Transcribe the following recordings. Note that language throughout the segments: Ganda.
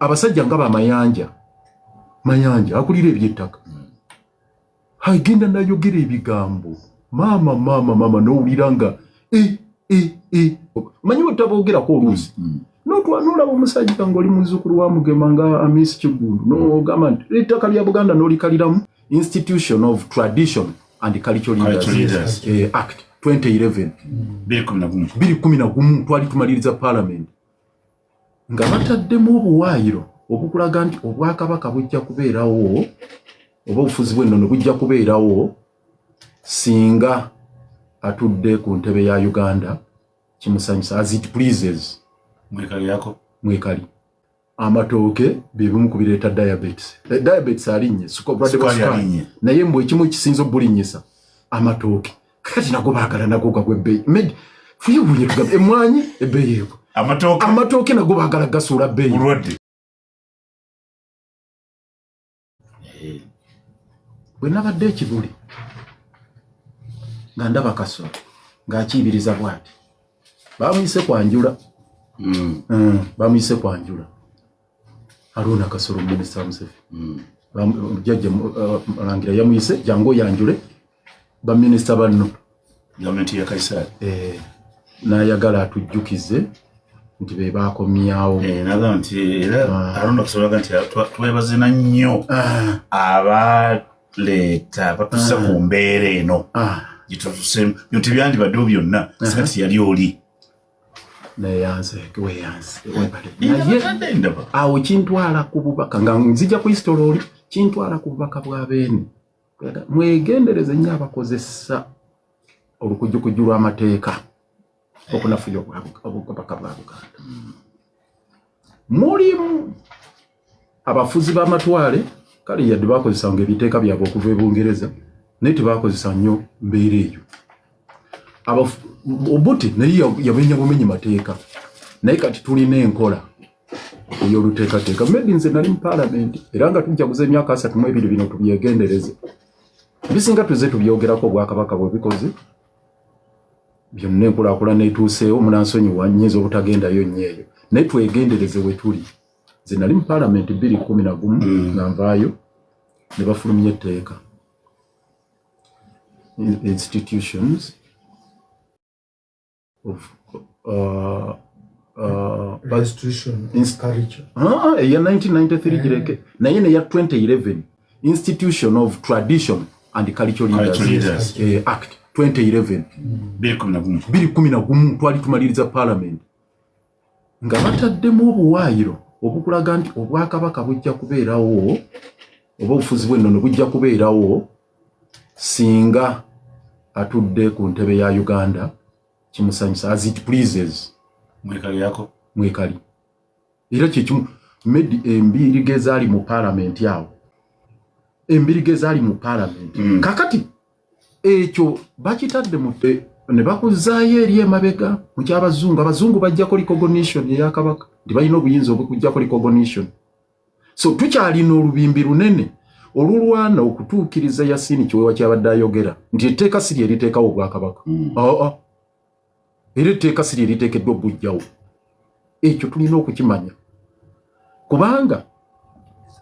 abasajja nga bamayanja mayanja akulira ebyettaka hmm. agenda nayogera ebigambo maama maama maama nowulira nga e e e manyi wetabogerako oluusi hmm, hmm. notwanolaba omusajja ngaoli muzukulu wa mugema nga amis kigulu nogamba nti ettaka lya buganda nolikaliramu institution of tradition and cultural leaders eh, act 2011 biri kumi na gumu twali tumaliriza palamenti nga bataddemu obuwaayiro obukulaga nti obwakabaka bujja kubeerawo oba obufuzi bw'ennono bujja kubeerawo singa atudde ku ntebe ya uganda kimusanyusa as it pleases mwekali yako mwekali amatooke byebimu ku bireeta diabetes eh, diabetes alinnye sukobulwadde bwa sukaali naye mbu ekimu ekisinza obulinnyisa amatooke kati nago bagala nago gagwe ebbeeyi med fuyewuye tugamba emwanyi ebbeeyi ego amatooke nago bagala gasuula bbeeyi bwe nabadde ekibuli nga ndaba kasolo ng'akiibiriza bwati bamuyise kwanjula hmm. Hmm, bamuyise kwanjula Haruna Kasolo Minister Museveni mm. jajja uh, Mulangira yamuyise jangu oyanjule baminister banno gavumenti ya Kaisari eh, n'ayagala atujjukize nti be baakomyawo eh, naga nti era ah. Haruna Kasolo aga nti twebazina nnyo ah. abaleeta batusa ah. ku mbeera eno gyetutusemu byonti byandibaddewo byonna singa tiyali oli awo kintwala ku bubaka nga nzija kuyisitola oli kintwala ku bubaka bwa beene mwegendereze nyo abakozesa olukujukujju lw'amateeka okunafuya obubaka bwa buganda mulimu abafuzi b'amatwale kale yadde bakozesanga ebiteeka byabwe okuva e bungereza naye tebakozesa nnyo mbeera eyo obuti naye yamenya bumenyi mateeka naye kati tulina enkola ey'oluteekateeka maybe nze nali mu paalamenti era nga tujjaguza emyaka asatu mu ebiri bino tubyegendereze bisinga tuze tubyogerako obwakabaka bwebikoze byonna enkulakulana etuuseewo munansonyiwa nyinza obutagendayo nnyo eyo naye twegendereze wetuli nze nali mu palamenti bbiri kumi na gumu mm. nga nvaayo ne bafulumya etteeka institutions of uh, uh, ah, eya 1993 eh. gireke naye neya 2011 institution of tradition and cultural leaders eh, act 2011 biri kumi na gumu twali tumaliriza palamenti nga bataddemu obuwaayiro obukulaga nti obwakabaka bujja kubeerawo oba obufuzi bw'ennono bujja kubeerawo singa atudde ku ntebe ya uganda kimusanyusa as it pleases mwekali yako mwekali era kyekimu medi embiriga ezaali mu palamenti awo embiriga ezaali mu palamenti mm. kakati ekyo bakitadde mu ne bakuzaayo eri emabega mu kyabazungu abazungu bajjako recognition eya kabaka nti balina obuyinza obwekujjako recognition so tukyalina olubimbi lunene olulwana okutuukiriza yasini kiwewa kyabadde ayogera nti etteeka si lye liteekawo obwakabaka mm. ah, ah. era etteeka si lye liteekeddwa okugujjawo ekyo tulina okukimanya kubanga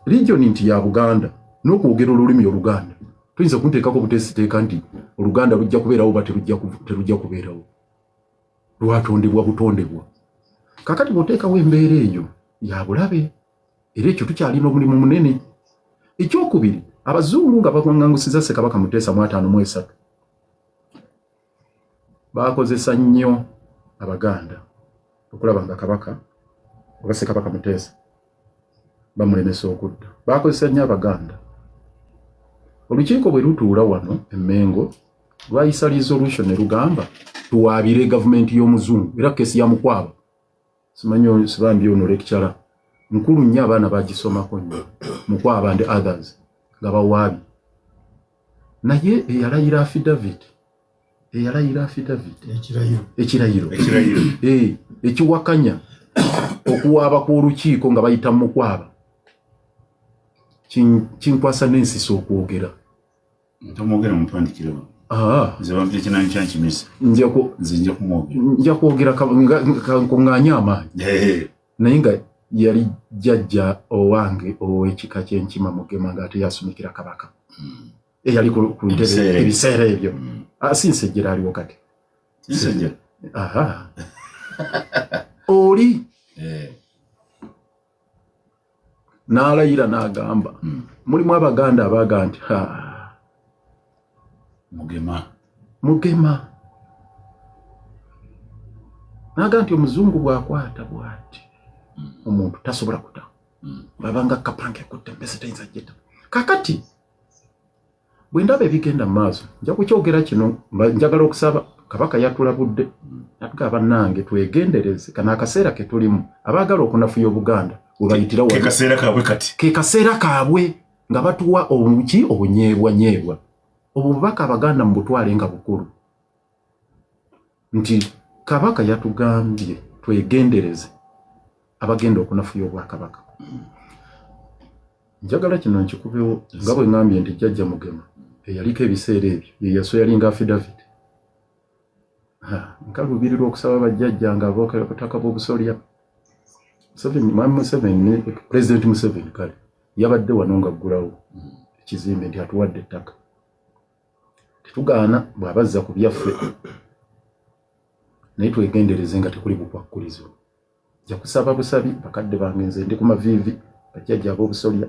region nti ya buganda n'okwogera olulimi oluganda tuyinza kunteekako buteesiteeka nti oluganda lujja kubeerawo oba terujja kubeerawo lwatondebwa butondebwa kakati bwoteekawo embeera eyo ya bulabe era ekyo tukyalina omulimu munene ekyokubiri abazungu nga bawangangusiza ssekabaka muteesa mu ataano mu esatu baakozesa nnyo abaganda okulaba nga kabaka oba sekabaka muteesa bamulemesa okudda baakozesa nnyo abaganda olukiiko bwe lutuula wano emmengo lwayisa resolution ne lugamba tuwaabire gavumenti y'omuzungu era kesi ya mukwabo simanyi oyo sibambi ono lecturer nkulu nnyo abaana bagisomako nnyo mukwaba ndi others nga bawaabi naye eyalayira affidavit eyalayira affidavit ekirayiro eh, ekiwakanya okuwaaba kw'olukiiko nga bayita mukwaba kinkwasa n'ensisa okwogera ntomwogera mutwandikirewo ah. nze bampita ekinanyi kyankimisa nze nja kumwogera nja kwogera kankunganye amaanyi naye nga yali jjajja owange ow'ekika ky'enkima mugema ng'ate yasumikira kabaka hmm. eyali ku ntebe ebiseera ebyo hmm. ah, si nsejjera aliwo kati oli eh. n'alayira n'agamba hmm. mulimu abaganda abaaga nti ha mugema mugema naaga nti omuzungu bwakwata bwati hmm. omuntu tasobola kuta hmm. babanga kapange kutte mbese tayinza jeta kakati bwe ndaba ebigenda mu maaso nja kukyogera kino njagala okusaba kabaka yatulabudde natga bannange twegendereze kana akaseera ke tulimu abaagala okunafuya obuganda webayitira kekaseera kaabwe kati kekaseera kaabwe nga batuwa obuki obunyeebwanyeebwa obwo bubaka abaganda mu butwale nga bukulu nti kabaka yatugambye twegendereze abagenda okunafuya obwakabaka njagala kino nkikubewo nga bwe ngambye nti jjajja mugema eyaliko ebiseera ebyo yeyaso yalinga afidavid nkalubirirwa okusaba bajjajja nga abookera butaka bw'obusolya mwami museveni pulezidenti museveni kale yabadde wano nga ggulawo ekizimbe nti atuwadde ettaka tetugaana bw'aba azza ku byaffe naye twegendereze nga tekuli bukwakkulizo ja kusaba busabi bakadde bange nze ndi ku maviivi bajjajja ab'obusolya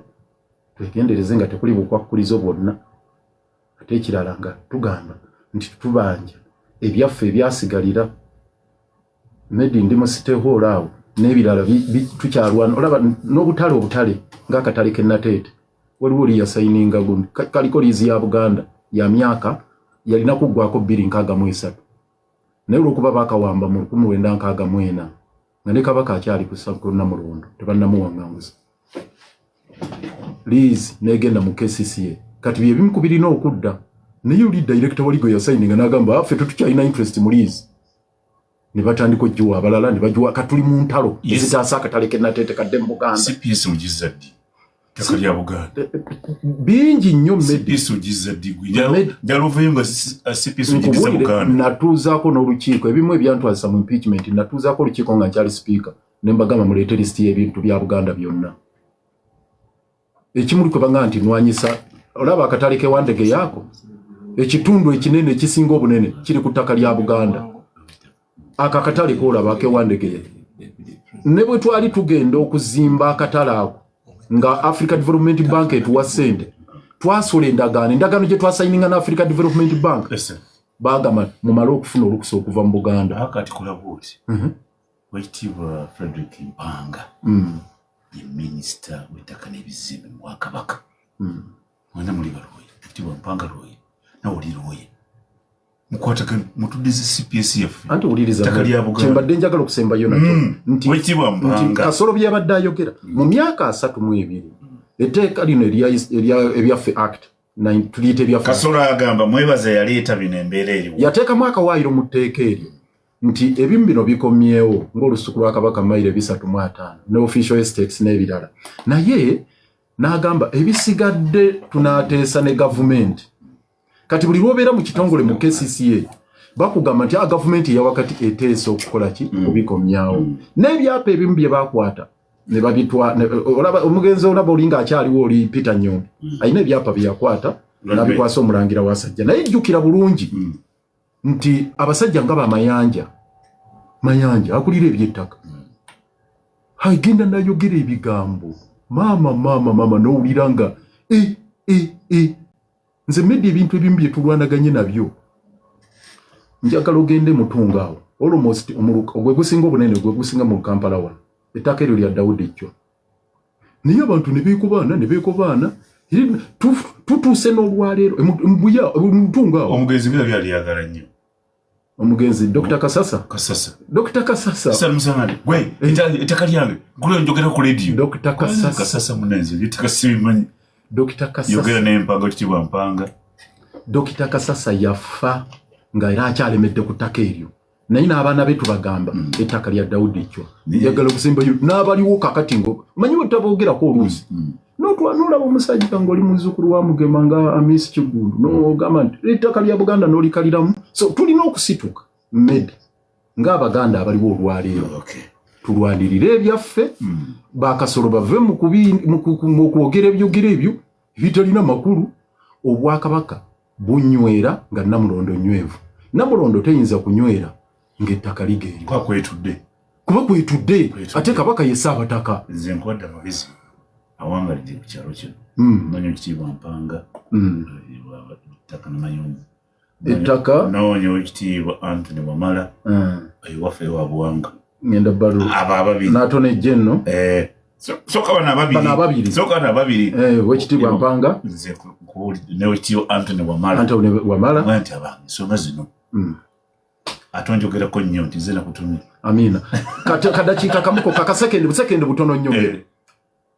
twegendereze nga tekuli bukwakkulizo bwonna ate ekirala nga tugamba nti tubanja ebyaffe ebyasigalira medi ndi mu site hall awo n'ebirala tukyalwana olaba n'obutale obutale ng'akatale ke nateete waliwo oli yasayininga gundi kaliko liizi ya buganda ya myaka yalina kuggwako bbiri nkaaga mu esatu naye olwokuba bakawamba mu lukumi wenda nkaaga mu ena nga ne kabaka akyali ku sakuluna mulondo tebannamuwaŋŋanguza liizi n'egenda mu kcca kati bye bimu ku birina okudda naye oli dayirekita wali gwe yasayininga n'agamba affe ah, tetukyalina interest mu liizi ne batandika ogiwa abalala ne bagiwa katuli mu ntalo ezitaasa akatale kenatete kadde mu buganda bingi nnyo natuuzaako n'olukiiko ebimu ebyantwazisa mu impeachment natuuzaako olukiiko nga nkyali sipiika ne mbagamba muleete lisiti y'ebintu bya buganda byonna ekimuli kwe banga nti nwanyisa olaba akatale ke wandege yako ekitundu ekinene ekisinga obunene kiri ku ttaka lya buganda ako akatale kolaba ke wandege ya ne bwe twali tugenda okuzimba akatale ako nga africa development bank etuwa sente twasula endagaano endagaano gye twasayininga na africa development bank bagamba mumale okufuna olukusa okuva mu buganda wekitiibwa frederick mpanga mm. ye minisita w'ettaka n'ebizimbe mu bwakabaka mm. mwena muli balwoye ekitiibwa mpanga lwoye nawe oli lwoye mukwatagana mutudize cps yaffe anti owulirizakyembadde njagala okusembayo nakyo mm. nti kasolo byabadde ayogera mu myaka asatu mu ebiri etteeka lino ebyaffe act tuliyita ebyaffe kasolo agamba mwebaza yaleeta bino embeera eriwo yateekamu akawaayiro mu tteeka eryo nti ebimu bino bikomyewo ng'olusuku lwa kabaka mayiro ebisatu mu ataano ne official estates n'ebirala naye n'agamba ebisigadde tunaateesa ne gavumenti kati buli lwobeera mu kitongole mu kcca bakugamba nti ah, gavumenti eyawakati eteesa okukola ki mm. okubikomyawo mm. n'ebyapa ebimu bye bakwata omugenzi olaba olinga akyaliwo oli peter nyoni mm. alina ebyapa byeyakwata nabikwasa omulangira wasajja naye jjukira bulungi nti abasajja nga bamayanja mayanja akulira ebyettaka hmm. agenda nayogera ebigambo maama maama maama nowulira nga e e e nze medi ebintu ebimu byetulwanaganye nabyo njagala ogende mutunga awo almost ogwegusinga obunene gwegusinga mu kampala wano ettaka eryo lya dawudi ejjo naye abantu nebekobaana nebekobaana tutuuse n'olwaleero mutunga awo omugenzi bira byali yagala nnyo omugenzi dr kasasa kasasa dr kasasa sasa musamali gwe etaka lyange gule njogera ku radio dr kasasa kasasa munenze litaka simanyi dr kasasa yogera ne mpanga kitibwa mpanga dr kasasa yafa nga era akyalemedde ku ttaka eryo naye n'abaana be tubagamba mm. ettaka lya dawudi ekkyo njagala okusimba n'abaliwo kakati ngo manyi wetabogerako oluusi mm, mm. notwanolaba omusajja ngaoli muzukulu wa mugema nga amisi kiggundu nogamba nti ettaka lya buganda nolikaliramu so tulina okusituka med ng'abaganda abaliwo olwaleero tulwanirire ebyaffe bakasolo bave mu kwogera ebyogera ebyo ebitalina makulu obwakabaka bunywera nga namulondo nywevu namulondo teyinza kunywera nga ettaka ligenda kwetudde kuba kwetudde ate kabaka yesa abataka nze nkwadda mabisi awangalidde ku kyalo kino hmm. manyi ekitiibwa mpanga hmm. ettaka namayumba ettaka nawonya wekitiibwa antony wamala hmm. ewafe wabuwanga ngenda balu aba ababiri nato ne jenno eh so so kaba na babiri bana babiri so kaba na babiri eh wekiti bwa mpanga nze kuli ne wekiti antony wa mala antony wa mala mwanti aba so mazino mm atonjo gera ko nyo nti zena kutumira amina kata kadachi kakamuko kaka second second butono nyo eh.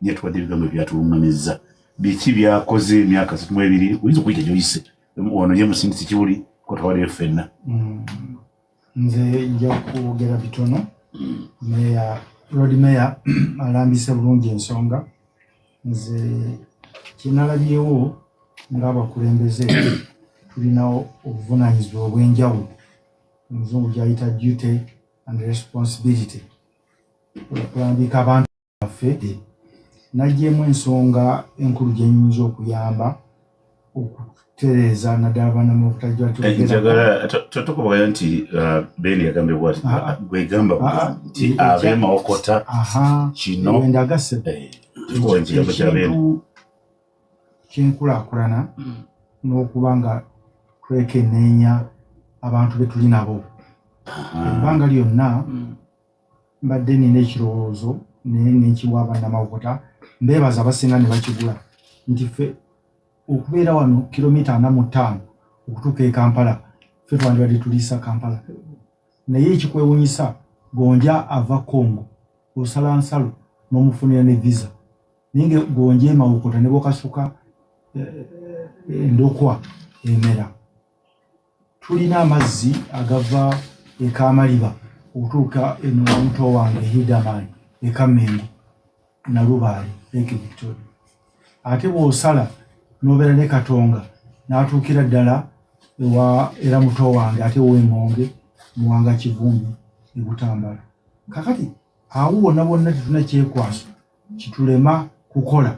naye tubadde ebigambo ebyatulungamizza biki byakoze emyaka satu mu ebiri oyinza okuyita gyoyise ono ye musindisi kiwuli kotwaliyo ffenna mm. nze nja kwogera bitono meya lord meya alambise bulungi ensonga nze kyenalabyewo ngaabakulembeze tulinawo obuvunanyizibwa obwenjawulo omuzungu gyayita duty and responsibility okulambika abantu waffe nagyemu ensonga enkulu gyenyinza okuyamba okutereeza naddala abaana mu butajjatotukubayo nti uh, beni yagambye bwati ah, ah. gwegamba ah, nti abemawokota kino ndagase eh, kyenkulakulana hmm. n'okuba nga twekeneenya abantu betuli nabo ebbanga lyonna hmm. mbadde nina ekirowoozo naye nenkiwa abannamawokota mbeebaza abasinga ne bakigula nti ffe okubeera wano kilomita ana mu ttaano okutuuka e kampala ffe twandibadde tuliisa kampala naye ekikwewunyisa gonja ava congo osala nsalo n'omufunira ne visa naye nga gonja emawokota ne bokasuka eh, eh, endokwa emera tulina amazzi agava ekamaliba okutuuka eno omuto wange hidaman ekamengo nalubaale lake victoria ate bwosala nobeera ne katonga natuukira ddala ewa era muto wange ate wengonge muwanga kivumbi ebutambala kakati awo wonna bonna tetuna kyekwaso kitulema kukola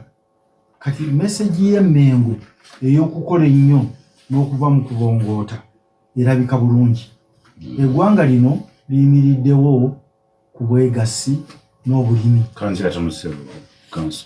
kati mesegi y'emmengo ey'okukola ennyo n'okuva mu kubongoota erabika bulungi hmm. eggwanga lino liyimiriddewo ku bwegassi n'obulimi kanzira tamusebo kanso